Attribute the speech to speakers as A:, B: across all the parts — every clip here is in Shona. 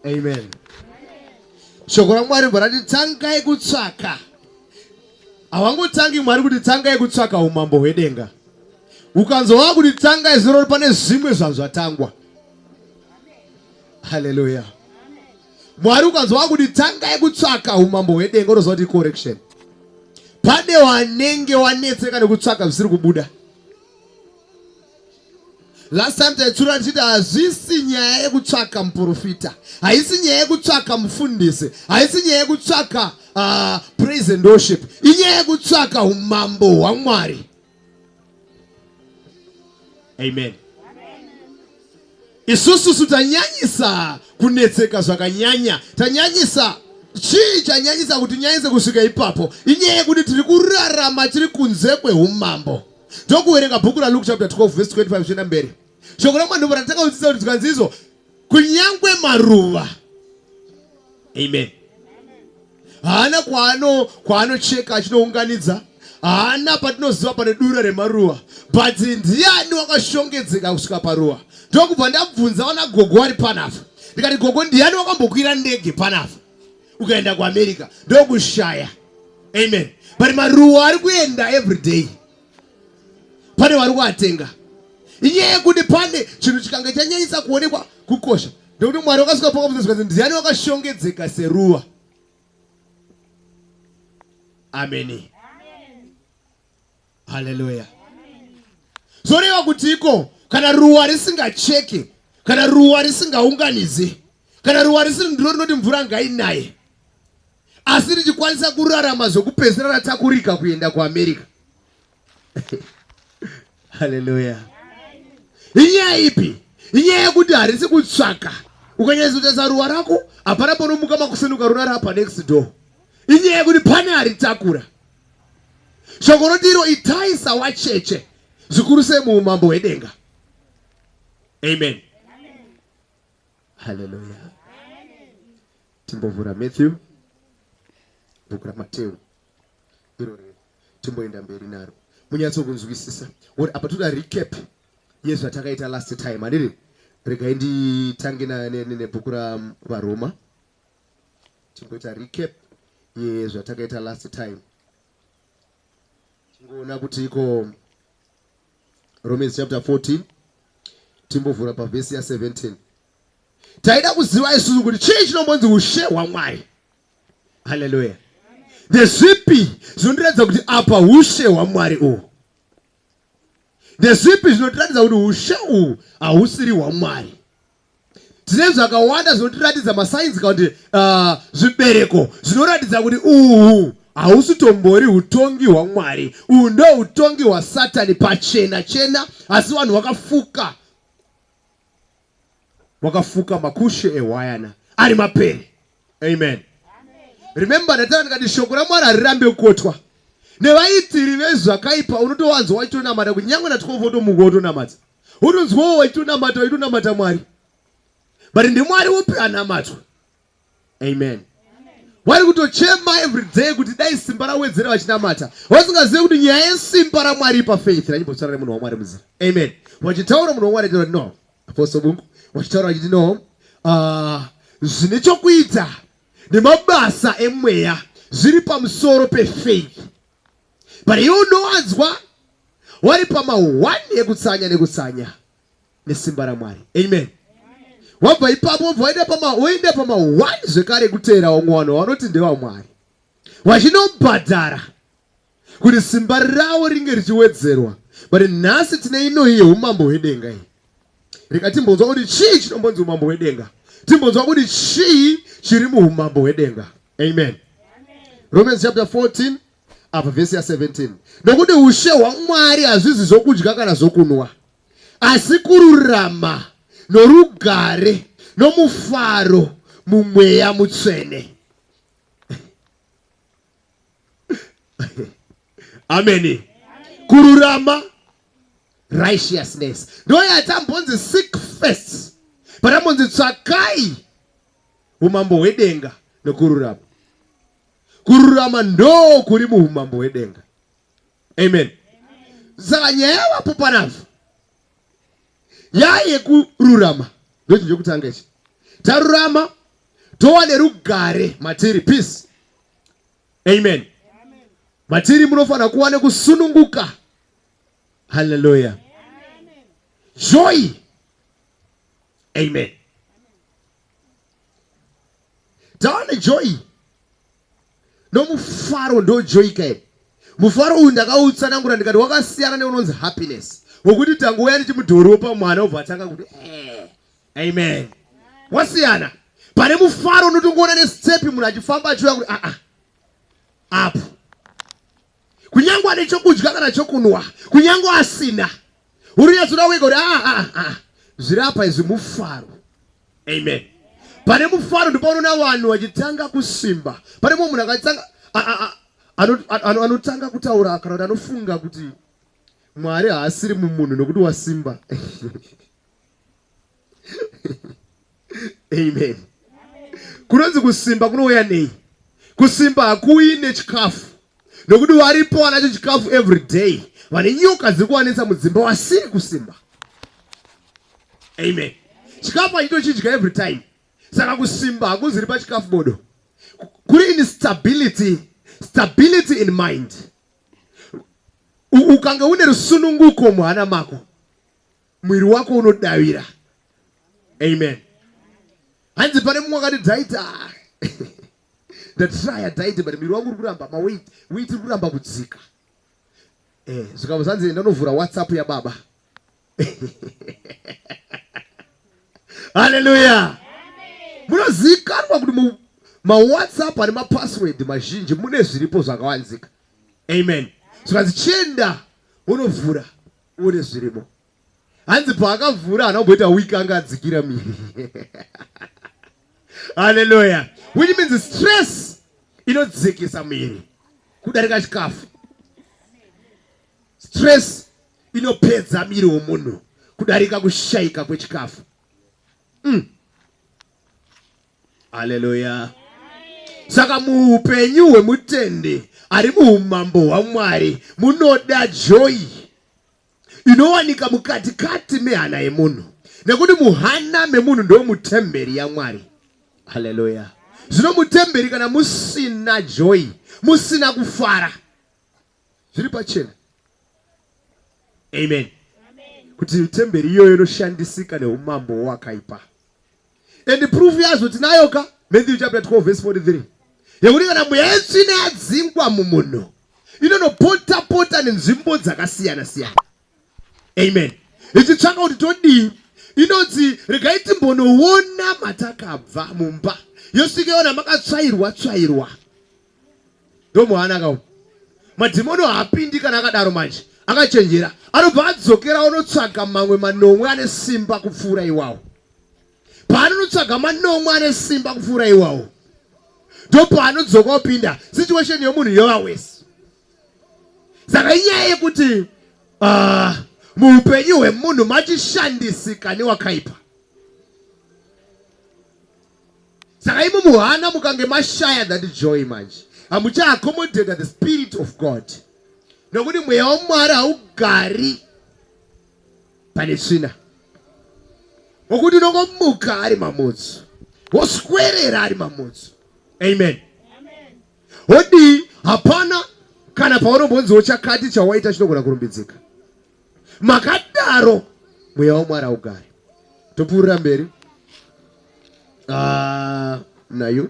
A: amen shoko ramwari mborati tangai kutsvaka havangotangi mwari kuti tangai kutsvaka umambo hwedenga ukanzova kuti tangai zirori pane zvimwe zvazvatangwa haleluya Mwari ukanzwa kuti tangai kutsvaka umambo hwedenga unoziva kuti correction. Pane wanenge wanetseka nekutsvaka zvisiri kubuda. Last time taitsura tichiti hazvisi nyaya yekutsvaka muprofita, haisi nyaya yekutsvaka mufundisi, haisi nyaya yekutsvaka uh, praise and worship, inyaya yekutsvaka umambo hwaMwari. amen isususu tanyanyisa kunetseka zvakanyanya tanyanyisa chii chanyanyisa kuti nyanyise kusvika ipapo inyaya yekuti tiri kurarama tiri kunze kweumambo ndokuverenga bhuku raluke chapter 12 vese 25 zvichienda mberi shoko ramwari ndobva ratanga kudzidza kuti tikanzi izvo kunyangwe maruva amen haana kwaano kwaanocheka achinounganidza haana patinoziva pane dura remaruva but ndiani wakashongedzeka kusvika paruva ndokubva ndabvunza vana gogo vari panapa ndikati gogo ndiani wakambokwira ndege panapa ukaenda kuamerica ndokushaya amen but maruva ari kuenda every day pane wari kuatenga inyaya yekuti pane chinhu chikange chanyanyisa kuonekwa kukosha ndekuti mwari wakasvika pakabvunzwa kuti ndiani wakashongedzeka seruva ameni haleluya zvoreva kuti iko kana ruwa risingacheke kana ruwa risingaunganidze kana ruwa risiri ndiro rinoti mvura ngainaye asi richikwanisa kurarama zvokupedzisira ratakurika kuenda kuamerica haleluya inyaya ipi inyaya yekuti harisi kutsvaka ukanyaizotarisa ruwa rako hapana ponomuka makuseni ukarurara pa next door inyaya yekuti pane aritakura shoko roti iro itai sawacheche zvikuru sei muumambo hwedenga amen Hallelujah. Timbovhura Matthew bhuku raMateo iro riri timboenda mberi naro munyatso kunzwisisa or apa toda recap yezvatakaita last time handiri regai nditange nebhuku ravaroma timboita recap yezvatakaita last time tingoona kuti iko Romans chapter 14 timbovhura pavhesi ya 17 taida kuziva isusu kuti chii chinombonzi ushe hwamwari haleluya ndezvipi zvinondiratidza kuti apa ushe hwamwari uhu ndezvipi zvinotiratidza kuti ushe uhu hahusiri hwamwari tine zvakawanda zvinotiratidza masainzi kana kuti ah, zvibereko zvinoratidza kuti uhu hausi tombori utongi hwamwari uhu ndo utongi hwasatani pachena chena asi vanhu vakafuka vakafuka makushe ehwayana ari mapere amen remember ndatara ndikati shoko ramwari harirambe kukotwa nevaitiri vezvakaipa unotowanzwa wachitonamata kunyange na 12 otomuka otonamadza Unonzwawo waitonamata waitonamata Mwari. But ndimwari upi anamatwa. Amen. Wari kutochema every day kuti dai simba rawedzera vachinamata. Wasingazive kuti nyaya yesimba raMwari pa faith ranyimbotsara nemunhu waMwari muzira. Amen. Wachitaura munhu waMwari achitaura no. Apostle Bungu wachitaura achiti no. Uh, zvine chokuita nemabasa emweya zviri pamusoro pefaith but iwe unowanzwa wari pama one ekutsanya nekutsanya nesimba ramwari amen wabva ipapo wabva waenda pama woenda pama one zvekare kuteera wamwe vanhu vanoti ndevamwari vachinobhadhara kuti simba ravo ringe richiwedzerwa but nhasi tine inoyi yeumambo hwedenga iyi rika timbonzwa kuti chii chinombonzi umambo hwedenga timbonzwa kuti chii chiri muumambo hwedenga amen romans chapter 14 apa vhesi ya 17 nokuti ushe hwamwari hazvizi zvokudya kana zvokunwa asi kururama norugare nomufaro mumweya mutsvene ameni kururama righteousness ndoyatambonzi seek first patambonzi tsvakai umambo hwedenga nokururama kururama ndoo kuri muumambo hwedenga amen saka nyaya yavapo panavhu yaye kururama ndochinhu chekutanga ichi tarurama tova nerugare matiri peace amen matiri munofanira kuva nekusununguka halleluya joy amen Taone joy nomufaro ndojoyika here? Mufaro uyu ndakautsanangura ndikati wakasiyana neunonzi happiness wokuti tangouya ndichimudhoropa mwana obva atanga kuti eh, amen wasiyana pane mufaro unotongoona nesitepi munhu achifamba achiuya kuti aa ah, ah. apo kunyangwe ane chokudya kana chokunwa kunyangwe asina urinyatsona wega kuti aa ah, ah, ah, zviri apa izvi mufaro amen pane mufaro ndipaunoona vanhu vachitanga kusimba pane mumwe munhu akatanga anotanga kutaura kana kuti anofunga kuti mwari haasiri mumunhu nokuti wasimba amen kunonzi kusimba kunouya nei kusimba hakuuyi nechikafu nokuti varipo wanacho chikafu every day vane nyoka dziri kuwanisa mudzimba wasiri kusimba amen chikafu achitochidya every time saka kusimba hakuziri pachikafu bodo kuri in stability stability in mind ukange une rusununguko muhana mako mwiri wako unodavira amen hanzi pane mumwe akati dzaita ah, ndatraya dzaita but mwiri wangu uri kuramba maweit weit iri kuramba kudzika eh, zvikava zvanzi ndanovhura whatsapp yababa haleluya munozivikanwa kuti mawhatsapp ane mapassword mazhinji mune zviripo zvakawanzika amen zvikanzi chienda unovhura Uone zvirimo. Hanzi paakavhura hana kumboita week anga adzikira miri. Hallelujah. Which means stress inodzikisa miri kudarika chikafu. Stress inopedza miri womunhu kudarika kushaika kwechikafu. Mm. Haleluya. Saka muupenyu hwemutendi ari muumambo hwaMwari munoda joyi inowanika mukati kati mehana yemunhu nekuti muhana memunhu ndo mutemberi yaMwari. Haleluya. Zvino mutemberi kana musina joyi, musina kufara, zviri pachena amen kuti temberi iyoyo inoshandisika neumambo hwakaipa and proof yazvo tinayo ka matthew chapter 12 verse 43 yekuti kana mweya yetsvina yadzingwa mumunhu inonopota pota nenzvimbo dzakasiyana siyana amen ichitsvaka kuti todii inonzi regai timbonoona matakabva mumba yosvika yona makatsvairwa tsvairwa ndomuhanaka umu madhimoni haapindi kana akadaro manje akachenjera anobva adzokera onotsvaga mamwe manomwe ane simba kupfuura iwawo paanonotsvaga manomwe ane simba kupfuura iwawo ndopaanodzoka opinda situation yomunhu yova wese saka inyaya yekuti ah, muupenyu hwemunhu machishandisika newakaipa saka imi muhana mukange mashaya that joy manje hamucha accommodate the spirit of god nokuti mweya wamwari haugari pane tsvina wokuti unongomuka ari mamutsu woswerera ari mamutsu amen wodii hapana kana paunombonziwo chakati chawaita chinogona kurumbidzika makadaro mweya wamwari augare topfuurira mberi ah, nayo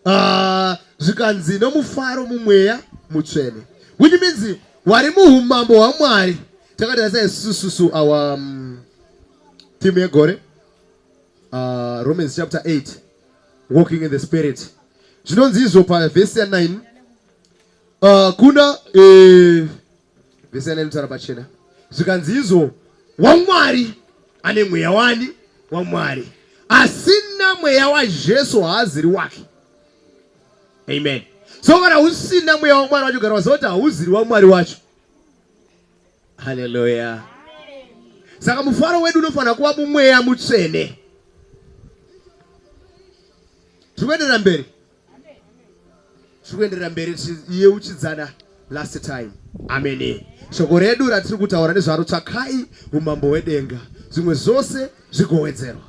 A: ah, zvikanzi nomufaro mumweya mutsvene which means wari muumambo hwamwari takatarisa isususu awa um, timu yegore uh, romans chapter 8 walking in the spirit zvinonzi izvo pavhesi ya 9 uh, kunda eh, vese ane mitsara pachena zvikanzi izvo wamwari ane mweya wani wamwari asina mweya wajesu haaziri wake amen so kana usina mweya wamwari wacho gara waziva kuti hauziri wamwari wacho haleluya saka mufaro wedu unofanira kuva mumweya mutsvene tiri kuenderera mberi zvikuenderera mberi yeuchidzana last time amene shoko redu ratiri kutaura nezvaro tsvakai umambo hwedenga zvimwe zvose zvigowedzerwa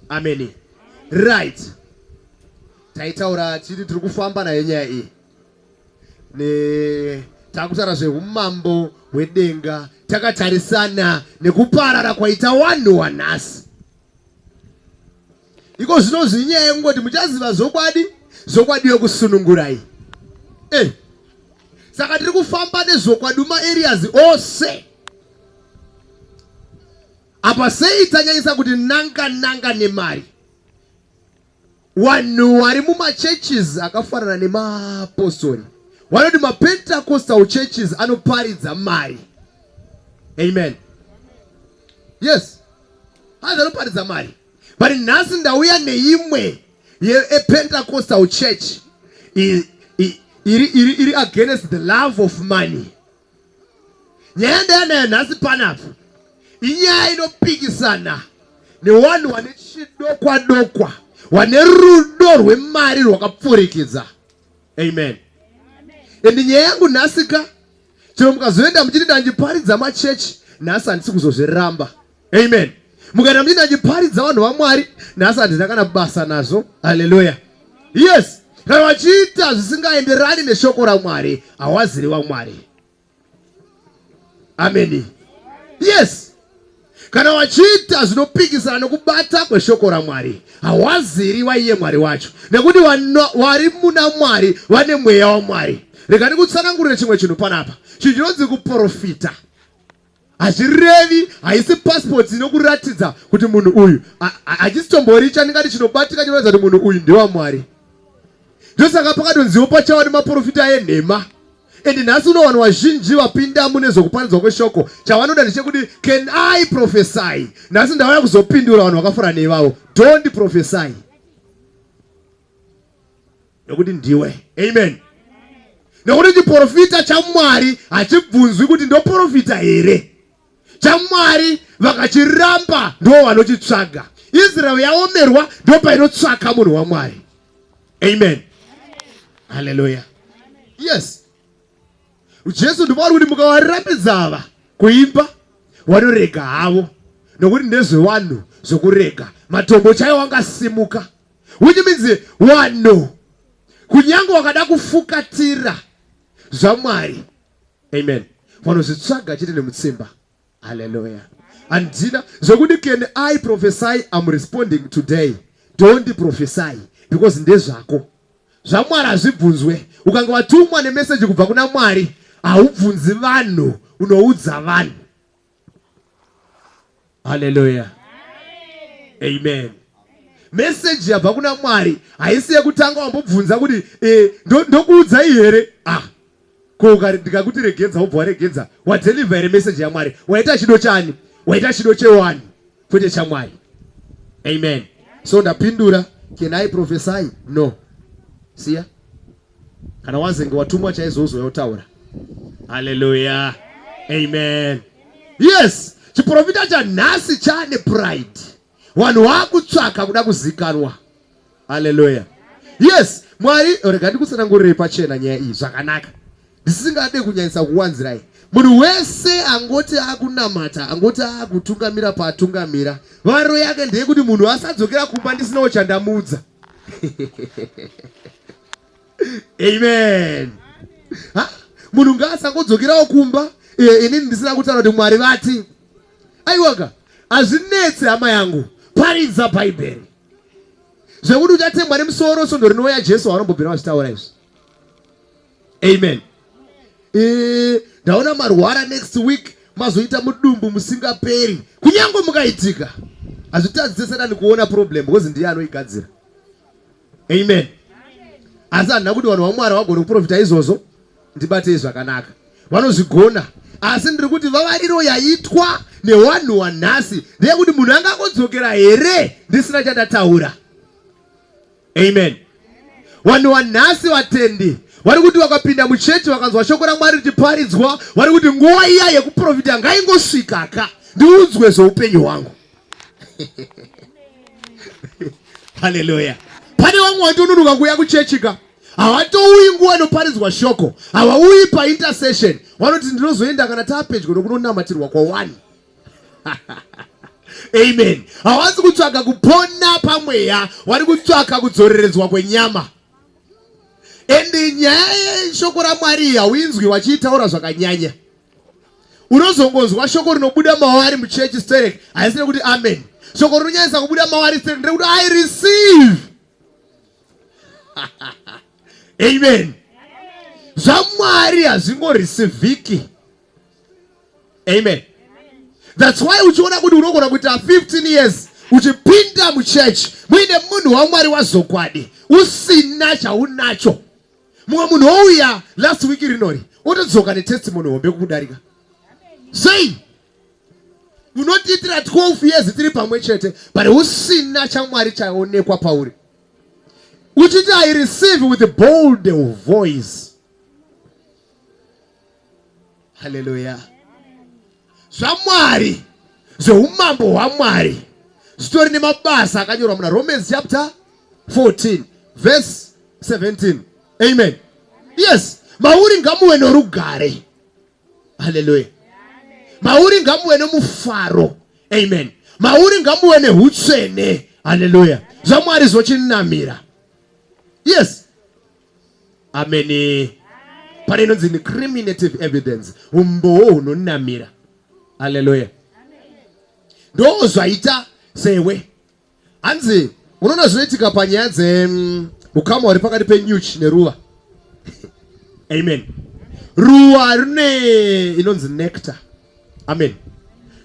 A: amene right taitaura chiti tiri kufamba nayo nyaya iyi takutaura zveumambo hwedenga takatarisana nekuparara kwaita wanhu wanhasi Iko zvino zviri nyaya yekungoti muchaziva zvokwadi, zvokwadi yokusunungurai. Eh, saka tiri kufamba nezvokwadi mumaeriyazi ose. Apa sei tanyanyisa kuti nanga nanga nemari? Wanhu wari mumachurches akafanana nemaapostori wanoti mapentacostal churches anoparidza mari. Amen. Yes. Hanzi anoparidza mari. but nhasi ndauya neimwe yepentacostal church iri against the love of money nyaya ndayanayo nhasi panapa inyaya inopikisana newanhu wane chidokwa dokwa wane rudo rwemari rwakapfurikidza amen ende nyaya yangu nhasika chero mukazoenda muchiti ndandiparidza machechi nhasi handisi kuzozviramba amen mukaita mdii ndachiparidza vanhu vamwari nhasi handina kana basa nazvo haleluya yes kana vachiita zvisingaenderani neshoko ramwari hawaziri vamwari ameni yes kana vachiita zvinopikisana nokubata kweshoko ramwari hawaziri vaiye mwari wacho nekuti vari muna mwari vane mweya wamwari rega ndikutsanangurire chimwe chinhu panapa chinhu chinonzi kuprofita hazvirevi haisi passport inokuratidza kuti munhu uyu hachisitomboori chandingati chinobatika chinoratidza kuti munhu uyu ndewamwari ndosaka pakadonziwo pachawa nemaprofita enhema and nhasi unowana wazhinji vapindamo nezvokuparidzwa kweshoko chavanoda ndechekuti can i profesy nhasi ndavaya kuzopindura vanhu vakafura neivavo don't profesy nekuti ndiwe amen nekuti chiprofita chamwari hachibvunzwi kuti ndoprofita here chamwari vakachiramba ndo vanochitsvaga israel yaomerwa ndo painotsvaka munhu wamwari amen haleluya yes jesu ndimwari kuti mukavarambidza ava kuimba vanorega havo nokuti ndezvevanhu zvokurega matombo chaiwo angasimuka which means wano kunyange wakada kufukatira zvamwari amen vanozvitsvaga chete nemutsimba haleluya handina zvekuti can i prophesy am responding today don't prophesy because ndezvako zvamwari hazvibvunzwe ukange watumwa nemeseji kubva kuna mwari haubvunzi vanhu unoudza vanhu haleluya amen meseji yabva kuna mwari haisi yekutanga wambobvunza kuti e, ndokuudzai ndo here ah ko ndikakuti regedza wobva waregedza wadelivha here meseji yamwari waita chido chani waita chido chewani kwete chamwari amen so ndapindura can i profesai no siya Kana wazenge watumwa chaizo uzouya utaura. Hallelujah. Amen. Yes, chiprofita chanhasi chane pride. Vanhu vakutsvaka kuda kuzikanwa. Hallelujah. Yes, Mwari rega ndikutsanangurire pachena nyaya iyi zvakanaka. Ndisingade kunyanyisa kuwanzirai. Munhu wese angoti akunamata, angoti akutungamira paatungamira. Varo yake ndeyekuti munhu asadzokera kumba ndisinawo chandamuudza. amen munhu ngaasangodzokerawo kumba eh, inini ndisina kutaura kuti mwari vati aiwaka hazvinetse hama yangu paridza bhaibheri zvekuti uchatemwa nemusoro svondo rinouya jesu waanombobvira vachitaura izvi amen eh, ndaona marwara next week mazoita mudumbu musingaperi kunyange mukaitika hazvitadzise satani kuona problem because ndiye anoigadzira amen asi handina kuti vanhu vamwari vagone kuprofita izvozvo ndibatei zvakanaka vanozvigona asi ndiri kuti vavariro yaitwa newanhu wanhasi ndeyekuti munhu angangodzokera here ndisina chandataura amen vanhu vanhasi vatendi vari kuti vakapinda muchechi vakanzwa shoko ramwari richiparidzwa vari kuti nguva iya yekuprofita ngaingosvika ka ndiudzwe zveupenyu hwangu haleluya pane vamwe vatononoka kuuya kuchechi ka havatouyi nguva inoparidzwa shoko havauyi paintercession vanoti ndinozoenda kana taapedyo nokunonamatirwa kwawani amen hawasi kutsvaka kupona pamweya wari kutsvaka kudzoreredzwa kwenyama and nyaya yeshoko ramwari hauinzwi wachiitaura zvakanyanya unozongonzwa shoko rinobuda mawari muchechi sterek haisire kuti amen shoko rinonyanyisa kubuda mawari sterek ndrekuti i receive amen zvamwari hazvingorisivhiki amen thats why uchiona kuti unogona kuita 15 years uchipinda muchechi muine munhu wamwari wazokwadi usina chaunacho mumwe munhu wouya last week rinori otodzoka netestimony hombe kukudarika sei unotiitira 12 years tiri pamwe chete but usina chamwari chaonekwa pauri uchiti i receive with bold voice haleluya zvamwari zveumambo hwamwari zvitori nemabasa akanyorwa muna romans chapter 14 verse 17 amen yes mauri ngamuve norugare haleluya mauri ngamuve nomufaro amen mauri ngamuve neutsvene haleluya zvamwari zvotinamira yes ameni pane inonzi incriminative evidence umbowo hunonamira aleluya ndo zvaita sewe hanzi unoona zvinoitika panyaya dzeukama mm, hwari pakati penyuchi neruva amen ruwa rine inonzi nectar amen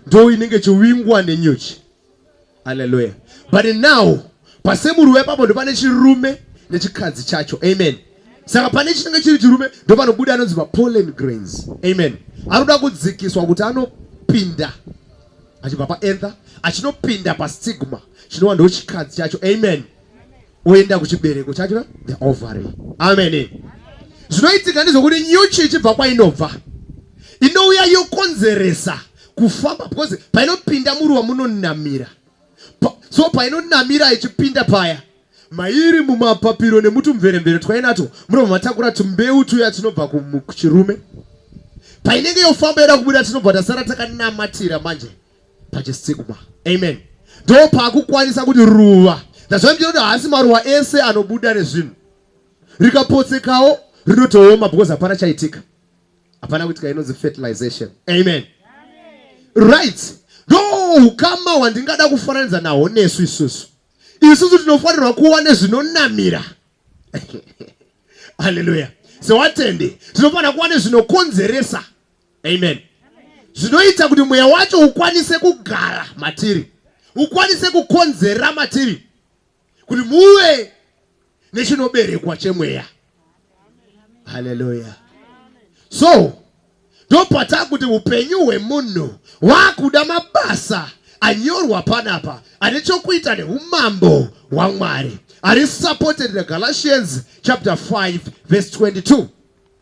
A: ndo inenge chivingwa nenyuchi Hallelujah. But now pasemuru wepapo ndopane chirume nechikadzi chacho. Amen. Saka pane chinenge chiri chirume ndopanobuda anonzi mapollen grains. Amen. Anoda kudzikiswa kuti anopinda achibva paether achinopinda pastigma chinova ndochikadzi chacho. Amen. oenda kuchibereko chacho the ovary amen zvinoitika ndezvokuti nyuchi ichibva kwainobva inouya yokonzeresa kufamba because painopinda muruwa munonamira so painonamira ichipinda paya mairi mumapapiro nemutumveremvere twainato munobva matakura tumbeu tuya tinobva kuchirume painenge yofamba yoda kubuda tinobva tasara takanamatira manje pachisikwa amen ndo pakukwanisa kuti ruva ndazvandira kuti haasi maruva ese anobuda nezvinhu rikapotsekawo rinotooma because hapana chaitika hapana kuitika inonzi fertilization amen right ndo ukama hwandingada kufananidza nahwo nesu isusu isusu tinofanirwa kuva nezvinonamira haleluya sewatende tinofanira kuva nezvinokonzeresa amen zvinoita kuti mweya wacho ukwanise kugara matiri ukwanise kukonzera matiri kuti muve nechinoberekwa chemweya haleluya so ndopata kuti upenyu hwemunhu waakuda mabasa anyorwa panapa ane chokuita neumambo hwamwari ari supported negalatians chapter 5 verse 22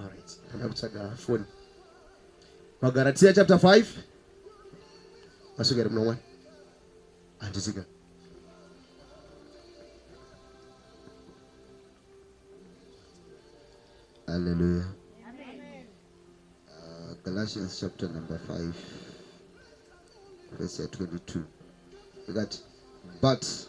A: Alright, kutsvaga phone. Magaratia chapter 5 masvika here munomwe handisika Hallelujah. Amen. Uh, Galatians chapter number 5, verse 22. That, but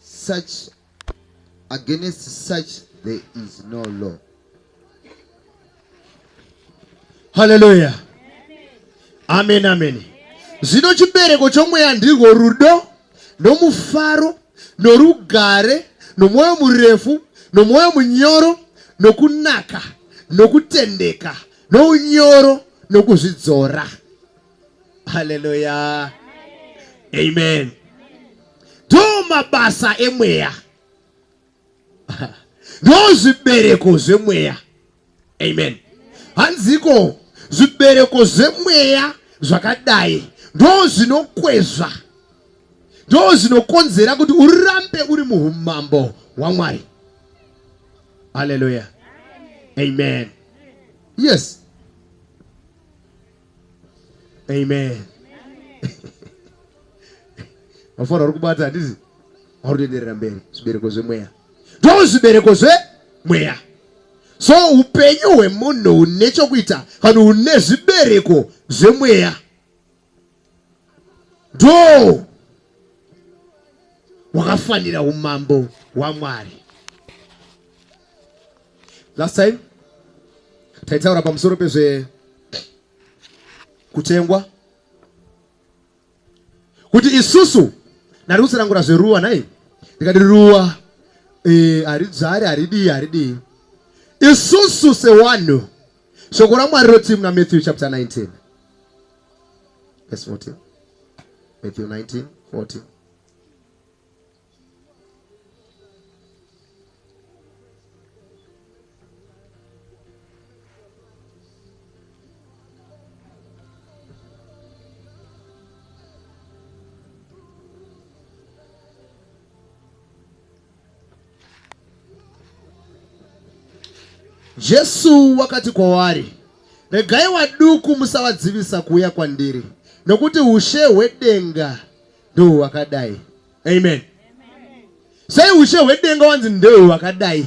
A: such against such there is no law haleluya amen amen zvino chibereko chomweya ndirwo rudo nomufaro norugare nomwoyo murefu nomwoyo munyoro nokunaka nokutendeka nounyoro nokuzvidzora haleluya amen ndo mabasa emweya ndo zvibereko zvemweya amen hanziko zvibereko zvemweya zvakadai ndo zvinokwezva ndo zvinokonzera kuti urambe uri muumambo hwamwari haleluya amen yes amen mafaro ari kubata handizi ari kuenderera mberi zvibereko zvemweya ndo zvibereko zvemweya so upenyu hwemunhu hune chokuita kana hune zvibereko zvemweya ndo hwakafanira umambo hwamwari Last time taitaura pamusoro pezve kutengwa kuti isusu ndari kutsanangura zveruwa nhai ndikati ruwa eh, haridzari haridii haridii isusu sewanhu shoko ramwari roti muna matthew chapter 19 verse 14 matthew 19 14 Jesu wakati kwavari, regai waduku musavadzivisa kuuya kwandiri, nokuti ushe hwedenga ndohwakadai. amen sei ushe hwedenga wanzi ndewe wakadai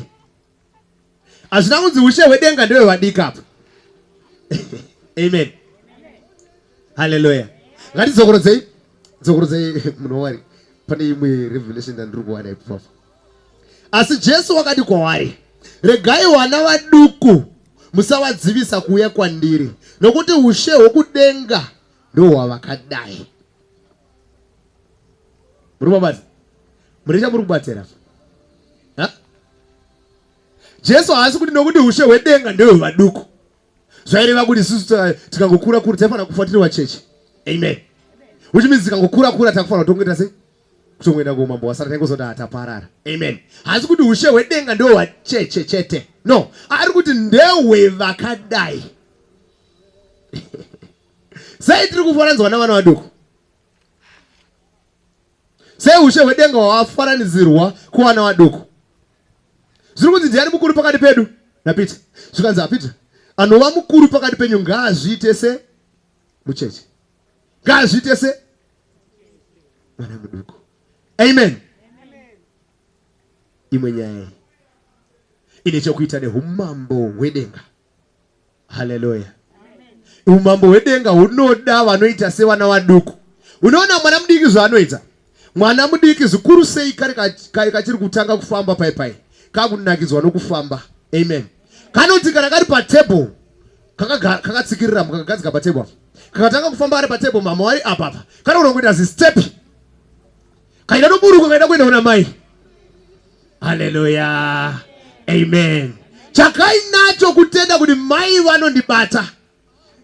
A: hazvina kunzi ushe hwedenga ndewe vadika apa amen halleluya ngatidzokoredzei dzokorodzei munhu wawari pane imwe revelation yandiri kuwana ipapo asi jesu wakati kwavari regai vana vaduku musavadzivisa kuuya kwandiri nokuti ushe hwokudenga ndohwavakadai muri mabasa mune chamuri kubatsira jesu haasi kuti nokuti ushe hwedenga ndewe vaduku zvaireva kuti isusu tikangokura kura taifanira kufa tiri vacheche amen which means tikangokura kura takufanira kutongoita sei kutongoenda kuumambo wasara taingozoti hataparara amen haasi kuti ushe hwedenga ndewe vacheche chete no ari kuti ndewe vakadai Sei tiri kufananidzwa navana vaduku? Sei ushe hwedenga hwafananidzirwa kuvana vaduku? Zviri kunzi ndiani mukuru pakati pedu naPeter? Zvikanzi aPeter anova mukuru pakati penyu ngaazviite se mucheche. Ngaazviite se mwana muduku. Amen. Imwe nyaya ine chokuita neumambo hwedenga. haleluya umambo hwedenga hunoda vanoita sevana vaduku unoona mwana mudiki zvaanoita mwana mudiki zvikuru sei kari kachiri kutanga kufamba pai pai kakunakidzwa nokufamba amen kanoti kana kari patable kakatsikirira kaka kakagadzika patable kakatanga kufamba ari patable mama wari apapa kanoona kuita zistep kaida noburuka kaida kuenda kuna mai haleluya amen chakainacho kutenda kuti mai vanondibata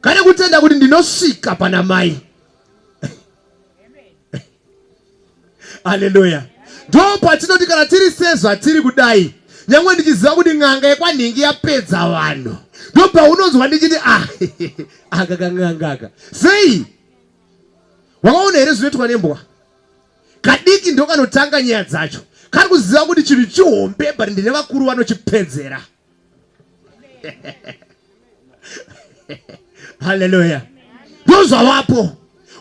A: kane kutenda kuti ndinosvika pana mai haleluya ndo patinoti kana tiri sezvatiri kudai nyangwe ndichiziva kuti n'anga yekwanhingi yapedza vanhu ndo paunonzwa ndichiti ah, aka kan'angaka sei wakaona here zvinoitwa nembwa kadiki ndokanotanga nyaya dzacho kari kuziva kuti chinhu chihombe but ndine vakuru vanochipedzera haleluya ndozvavapo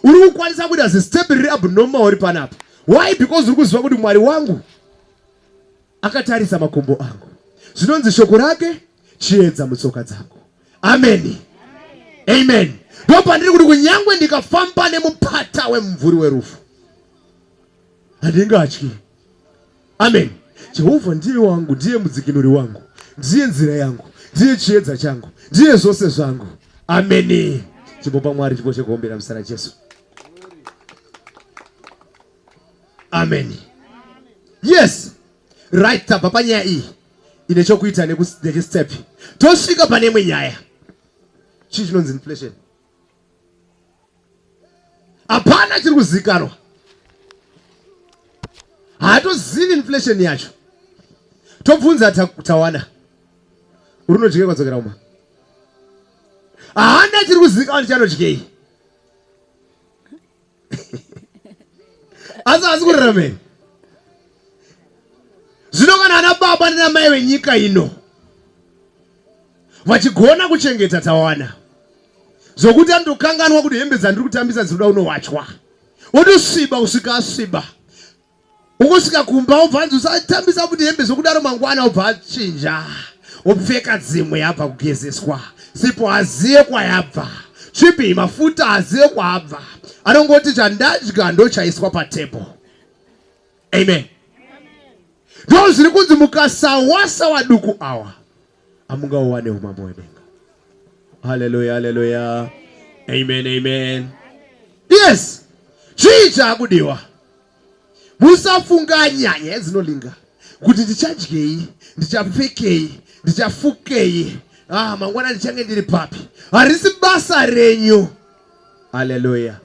A: uri kukwanisa kuita zistep riri abnormal uri panapa why because uri kuziva kuti mwari wangu akatarisa makumbo angu zvinonzi shoko rake chiedza mutsoka dzangu ameni amen ndopandiri kuti kunyangwe ndikafamba nemupata wemumvuri werufu handingatyi amen jehovha ndiye wangu ndiye mudzikinuri wangu ndiye nzira yangu ndiye chiedza changu ndiye zvose zvangu ameni chimbopa mwari chipo chekuombera muzita rajesu ameni yes right tabva panyaya iyi ine chokuita nechistep tosvika pane imwe nyaya chii chinonzi inflation hapana chiri kuzikanwa haatozivi inflation yacho tobvunza tawana urinodyiwa kwadzokera uma haana chiri kuzikanwa ndichanodyei asi asi kuraramei zvino kana ana baba nanamai venyika ino vachigona kuchengeta tawana zvokuti anotokanganwa kuti hembe dzandiri kutambisa dzinoda unowachwa wotosiba usika asiba Ukosvika kumba obva anzi usatambisa kuti hembe zvokudaro mangwana obva achinja opfeka dzimwe yabva kugezeswa sipo haziye kwayabva chipi mafuta haziye kwaabva anongoti chandadya ndochaiswa patable amen ndo zviri kunzi mukasawasa waduku awa amungauwane umambo wedenga haleluya haleluya amen amen yes chii chaakudiwa musafunganya nyaya dzinolinga kuti ndichadyei ndichapfekei ndichafukei ah, mangwana ndichange ndiri papi harisi basa renyu haleluya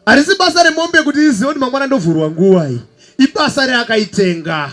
A: harisi basa remombe kuti izive kuti mangwana ndovhurwa nguvai ibasa reakaitenga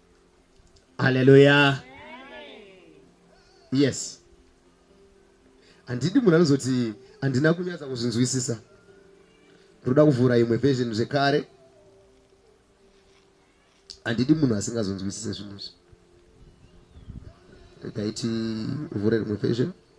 A: haleluya yes handidi munhu anozoti handina kunyatsa kuzvinzwisisa ndoda kuvhura imwe version zvekare handidi munhu asingazonzwisise zvinhu izvi rega iti vhure rimwe version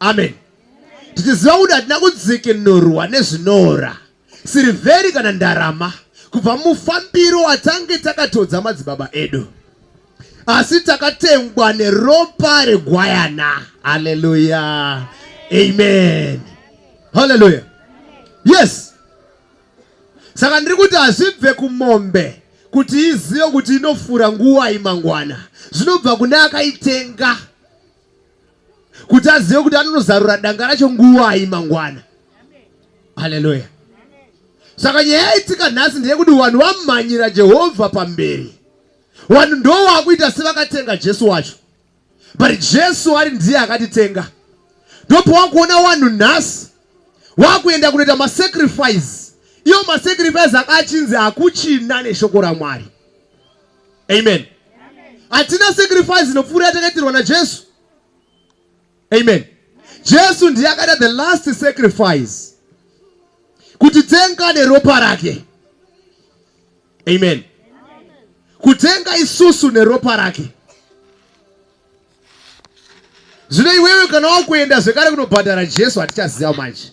A: amen tichiziva kuti hatina kudzikinurwa nezvinoora sirivheri kana ndarama kubva mufambiro watange takatodza madzibaba edu asi takatengwa neropa regwayana haleluya amen haleluya yes saka ndiri kuti hazvibve kumombe kuti izive kuti inofura nguva imangwana zvinobva kune akaitenga kuti azive kuti anonozarura danga racho nguvai mangwana haleluya saka nyaya yaitika nhasi ndeyekuti vanhu vamhanyira jehovha pamberi vanhu ndo vakuita sevakatenga jesu wacho but jesu ari ndiye akatitenga ndopowakuona vanhu nhasi vakuenda kunoita masacrifice iyo masacrifice akachinzi hakuchina neshoko ramwari amen hatina sacrifice inopfuura yatakaitirwa najesu amen jesu ndiye akaita the last sacrifice kuti tenga neropa rake amen kutenga isusu neropa rake zvino iwewe kana wakuenda zvekare kunobhadhara jesu hatichaziva manje